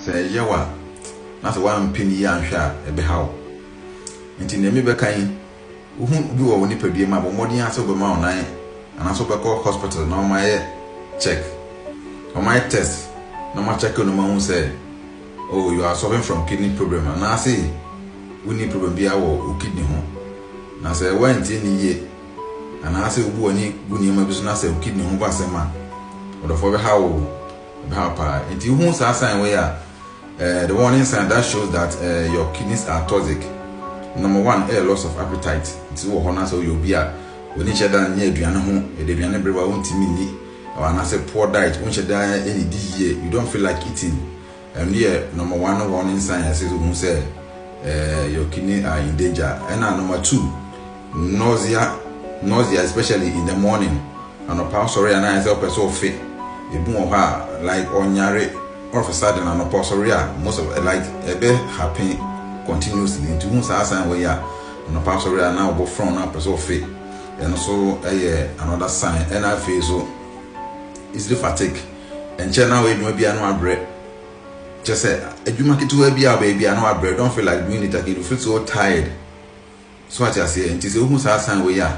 Sɛ ɛyɛ wo a, na sɛ woampene yie anhwɛ a, ɛbɛha wo. Enti nea merebɛka yi, wohu bi wɔ wo nipadua mu a, bɔ mmɔden ara sɛ wobɛma wo nan anaasɛ wobɛkɔ hospital na wɔayɛ check. Wɔayɛ test na wɔakyɛke wo na wɔahu sɛ, oh, you are suffering from kidney problem anaase wonni problem biara wɔ wo kidney ho. Na sɛ woantie nne yie anaasɛ wobu w'ani gu nneɛma bi so na sɛ wo kidney ho ba asɛm a, ɔdɔfoɔ bɛha wo. Ɛhaw paa. Nti wohu saa sign wei a, eh, the warning sign that shows that eh, your kidneys are toxic. Number one ɛyɛ loss of appetite. Nti wɔ hɔ na sɛ woyɛ obi a w'ani hyɛ da nyɛ aduane ho, yɛde aduane bere wa wontumi nni, anaasɛ poor diet, wonhyɛ da nnidi yie, you don't feel like eating. Ɛno yɛ number one warning sign a ɛsɛ sɛ wohu sɛ eh, your kidney are in danger. Ɛna number two, Nausea, Nausea especially in the morning, anɔpa wosɔre a na ayɛ sɛ wopɛ sɛ wofe. Ebi wɔ hɔ a like ɔnyare all of a sudden anɔpa ɔsɔre a most of like ɛbɛ happen continuously nti wohu saa sign wɔ yi a anɔpa asɔre a na ɔbɔ frɔn na wopɛ sɛ wofe. Ɛno nso ɛyɛ another sign ɛna afei nso easily fatigue ɛnkyɛ na woyɛ adwuma bi a na wabrɛ kyɛ sɛ adwuma ketewa bi a wobɛyɛ bi a na wabrɛ don't feel like doing it again you feel so tired. So wate aseɛ? Nti sɛ wohu saa sign wei a,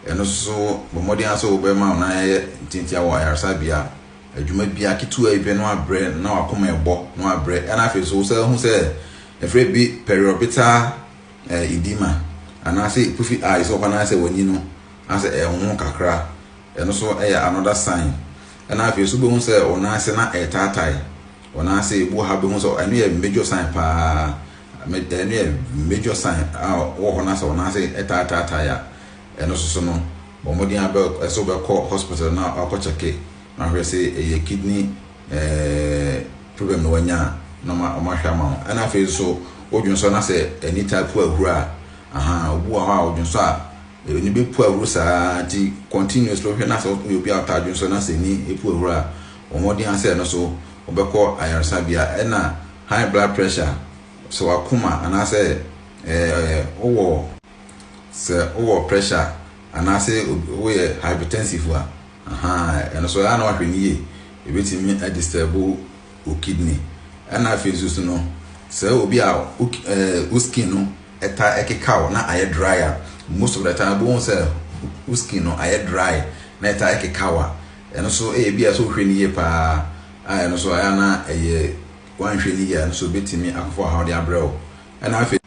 ɛno so bɔ mmɔden ara sɛ wobɛma wo nan ayɛ ntiantia wɔ ayaresabea a adwuma biara ketewa bi pɛ na wabrɛ na wakoma ɛbɔ na wabrɛ ɛna afei so wosan hu sɛ ɛfrɛ bi periorbital eh, edema anaasɛ puffy eye sɛ ɔkɔ nan sɛ w'ani no asɛ ɛnwo kakra ɛno so ɛyɛ another sign ɛna afei so wobɛhu sɛ wo nan ase na ɛtaatae Wɔn ara sɛ ebu ha behu sɛ ɛno yɛ major sign paa, ɛno yɛ major sign a wɔ hɔ na sɛ wɔn ara sɛ ɛtaa taataa yɛ a, ɛno soso no bɔ mmɔden a bɛ ɛsɛ wobɛkɔ hospital na wakɔ kyɛke na ahwɛ sɛ ɛyɛ kidney eh, problem na wanya a na wɔn ahwɛ ama wo. Ɛna afei nso wodwen so na sɛ ani taa pu ahuro a, aha, obu wɔ hɔ a odwen so a ani bɛpu ahuro saa nti continuously wohwɛ na sɛ woyɛ obi a wotaa dwen so na sɛ ani pu ahuro a bɔ mmɔden ara sɛ ɛno nso wobɛkɔ ayaresabea. Ɛna high blood pressure, sɛ w'akoma anaasɛ ɛɛ wowɔ sɛ wowɔ pressure anaasɛ woyɛ hypertensive a, ahaa ɛno nso ɛyɛ na wahwɛ no yie. Ebetumi adisturb wo kidney. Ɛna afei nso so no, sɛ obi a wo skin no ɛta ɛkeka wo na ayɛ dry a, most of the time bohu sɛ wo skin no ayɛ dry na ɛta ɛkeka wo a, Ɛno nso ɛyɛ bi a sɛ wohwɛ no yie pa ara a ɛno nso ayɛ a na ɛyɛ woanhwɛ no yie a ɛno nso ɛbɛtumi akɔfa ɔhaw de abrɛ wo. Ɛna afei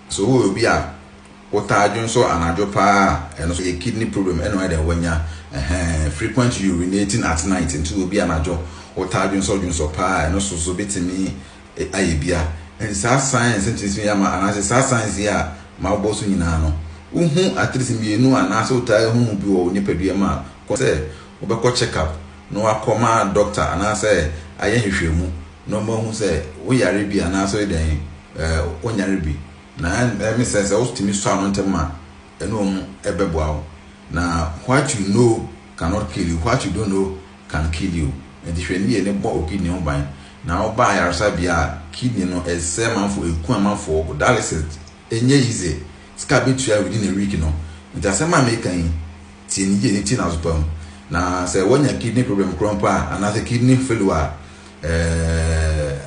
so woyɛ obi a wotaa dwo nso anadwo pa ara a ɛno nso ɛyɛ kidney problem ɛna ɔyɛ dɛn wanya ɛhɛn frequent urinating at night nti obi anadwo wotaa dwo nso dwo nso pa ara a ɛno nso so bɛtumi ayɛ bia ɛnti saa science ntumi sua ama anaasɛ saa science yi a ma wobɔ so nyinaa no wohu at least mmienu anaasɛ wotaa hu bi wɔ wo nipadua mu a kɔ sɛ wobɛkɔ check up na wakɔ ma doctor anaasɛ ayɛ nhwehwɛmu na ɔma hu sɛ woyare bi anaasɛ woyɛ dɛn wonyare bi na ɛmi sɛ sɛ wotumi sɔ ano ntɛm a ɛne wɔn bɛboa wo na what you know cannot kill you, what you don't know can kill you. Nti hwɛ ne yie ne bɔ wo kidney ho ban. Na wo ba ayaresabea a kidney no ɛsɛe amanfoɔ, ɛku amanfoɔ, dialysis ɛnyɛ easy, sika a bɛtua within a week no. Nti asɛm a meka yi tie ne yie ne tie no aso pa mu. Na sɛ woanya kidney problem korɔ mpo a anaasɛ kidney failure a ɛɛ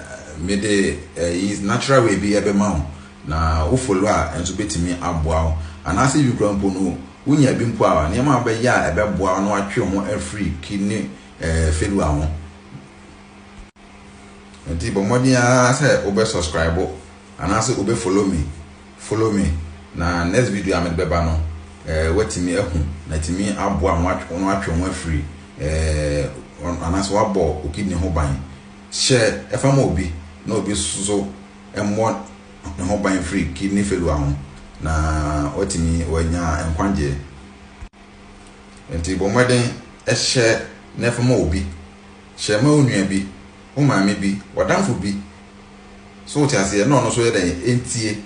mede ɛyi natural way bi ɛbɛma wo Na wo follow a nso bɛtumi aboa wo. Anaasɛ ebi koraa mpo no, wonya bi mpo a, nneɛma a wobɛyɛ a ɛbɛboa wo na woatwe wo ho afiri kidney failure ho. Ɛnti bɔ mmɔden ara sɛ wobɛ subscribe anaasɛ wobɛ follow me, follow me, na next video a mede bɛba no, woatumi ahu na atumi aboa ma na woatwe wo ho afiri anaasɛ woabɔ wo kidney ho ban. Hyɛ ɛfa ma obi na obi nso mmɔ ne ho ban firi kidney failure ho na watumi wanya nkwagyeɛ. Nti bɔ mmɔden hyɛ na fa ma obi. Hyɛ ma wo nua bi, wo maame bi, w'adamfo bi. So wote aseɛ? Na ɔno nso yɛ dɛn? Ɛntie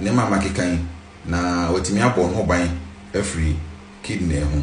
nneɛma a makeka yi na watumi abɔ ne ho ban afiri kidney ho.